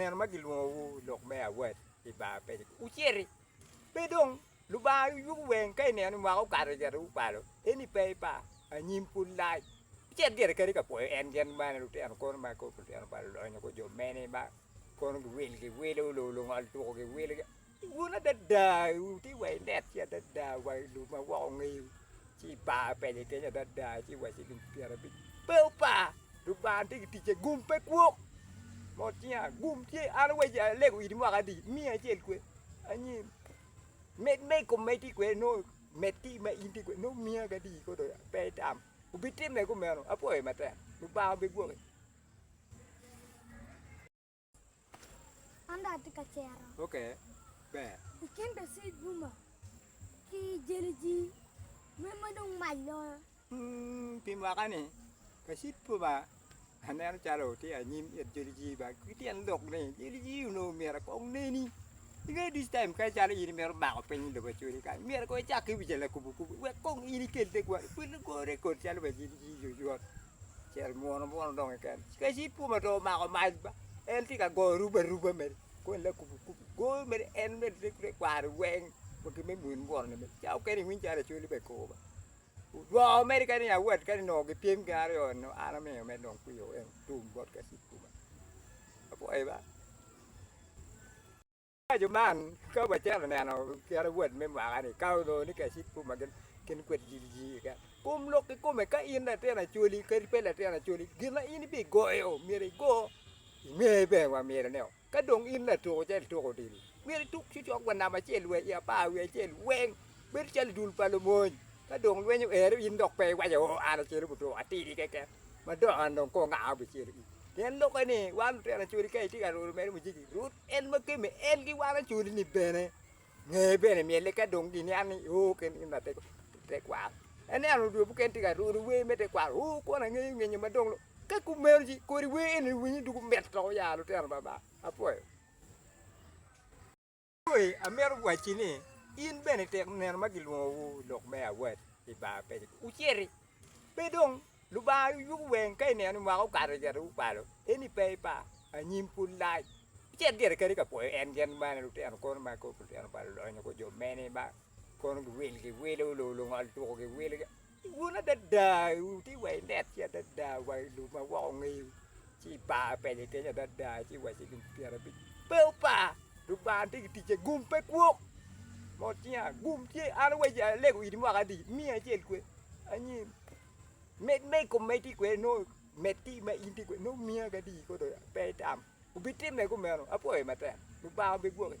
nino ma gilwongowu lok me awat i bar ma peya wuciti, pe dong Lubanga yubu weng ka ineno ni mwaka okato cito wukwalo, eni pe ipa, anyim pud lac. Wucit gire kadi ka pwoyo en gin man lutino kono ma kor lutino pa lulonyo kor jo mene ma kono giwil giwilo, lungol tuku giwilo. Wun adada wutye wa inet ci adada wa i lum ma woko ngeyo ci ipar pede kenyo adada ci wa ci gin pyerabic pe opa dong par tye ki ticce gum pe kwok mot cinga gum tye an awaco alego iti mwaka adi miya acel kwe anyim med ma i kome tye kwede nongo med ki ma in tye kwede nongo miya kadi kono pe itam wubitime kumeno apwoyo matek Lubanga obigwoki. An dong atye ka cero. Ok, ber. I kin Dacid Buma ki Jeliji, meno ma dong mac loyo? Hmm, pi mwaka-ni, Dacid Buma aneno calo tye anyim it Jeliji ba ki tyen lok ni Jeliji onongo myero kong oneni. Ingeyo ducu taim mukene calo in imito bako piny i lobo Acholi kany, myero kong icak ki wi jalakubo kubo wek kong in ikel tegwari, ikwel lagori kodi calo wa Jeliji oyot. Cel munu munu dong keken kadi ci pwod ma dong omako mac ba en tye ka goyo aruba aruba mere kong en lakubo kubo goyo mere en mere rik te kwaro weng wa ki me muni munu ni ca mukene iwiny calo lacoli bene kor wa odwoko mere kadi ni awot kadi nongo gipyem gin aryo ni an amiyo mere dong kwio tum bot kacik kuma apwoyi ba. Paco man ka wacito neno kit awob me mwaka ni ka onongo ni kacit ma gin kwed jiji keken, kum lok kikome ka in latin acholi kadi pe latin acholi gin ma in ibigoyo myero igo inge bene wa myero ni ka dong in latuko calo ituko odilo myero ituk cocok wa namba acel wa i apar wiye acel weng bedo calo dul pa lumony ka dong lweny oero in dok pe iwaco oo an acito gutuk atidi keken madong an dong kong aa bicel pien lokke ni wan lutino acholi ka itye ka lwodo mere mujiki rwod En ma gemme en giwaro cul-li bene, ngeye bene myel-le ka dong gin nia ni oo ken gin ma tekwaro. Ineno dwe mukene tye ka rwodo wer me tekwaro, oo kwon angeyo ngenyo ma dong lok. Ka kumeno-ci kodi wer eni iwinyo doko mit dok oya lutino baba. Apwoyo. Moi amito wacci ni in bene ityeko neno ma gilwongowu i lok me awal i bar pecci, wuciti pe dong. Lubanga aye yubu weng ka ineno ni mwaka okato cito gukwalo eni pe ipa anyim pud lac icit gire kadi ka pwoyo en gen ma lutino kono ma kor lutino pa lulonyo kor jo mene ma kono giwil giwilo lor lungol tuku giwilo wun adada wutye wa inet ci adada wa ilub ma woko ongeyo ci ipa peke kenyo adada ci wa cilo pyerabic pe opa Lubanga tye ki ticce gum pe kwok mot tinga gum tye an awaco alego iti mwaka adi miya acel kwed anyim. Med me i kom ma itye kwede nongo med ki ma in tye kwede nongo miya ki adi kono pe itam obitimme kumeno apwoyi matek Lubanga obigwoki.